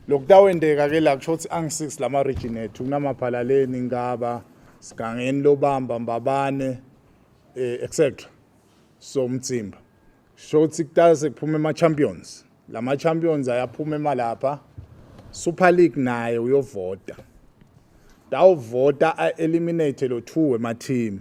lokutawendeka ke la kusho ukuthi angisix lama region ethu kunamaphalaleni ngaba sigangeni lobamba mbabane eh, etc so umthimba sho ukuthi kutase kuphuma ema champions lama champions ayaphuma emalapha super league naye uyovota dawuvota a eliminate lo two wema team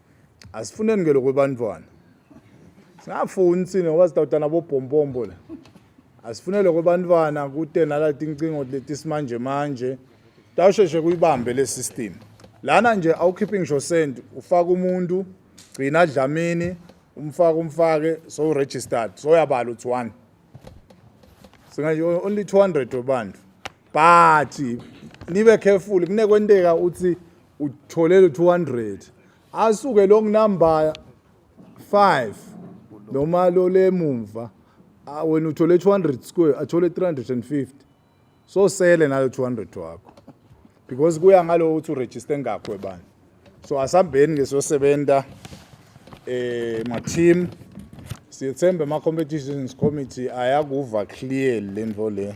asifuneni ke lokho bantwana singafuni sini ngoba sidawuta nabobhombombo la asifune lokho bantwana kute nalati incingo leti simanje manje tawusheshe kuyibambe le system lana nje awukhiphi ngisho send ufaka umuntu gcina dlamini umfaka umfake so registered so yabala uthi one singathi only 200 wabantu but nibe careful kunekwenteka uthi utholele 200 asuke long number 5 noma lo lemumva ah, wena uthole 200 square athole 350 so sele nalo 200 wakho because kuya ngalo uthi uregister ngakho ebani so asambeni ke sosebenza eh ma team siyethembe ama competitions committee ayakuva clear lento le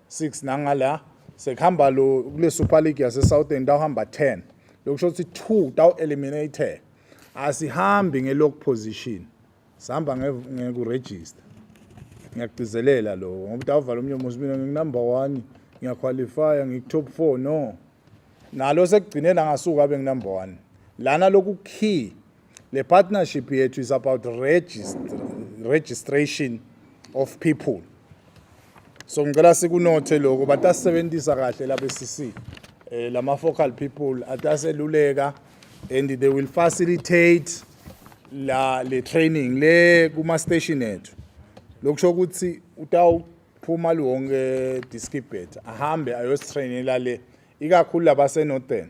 6 nangala sekuhamba lo kule Super League yase Southern tawuhamba 10 lokusho ukuthi 2 tawu eliminated asihambi nge lock position sihamba ngeku register ngiyagcizelela lo ngoba tawuvala omnye umuzi mina nginumber 1 ngiyaqualifya ngikutop 4 no nalo sekugcinela ngasuka abe nginumber 1 lana lokhu key Le partnership yethu is about regist registration of people. So ngicela sikunothe lokho batasebenzisa kahle la BCC. Eh lama focal people ataseluleka and they will facilitate la le training le kuma station ethu. Lokusho ukuthi utawu phuma lonke diskibet ahambe ayostrainela le ikakhulu labasenorthern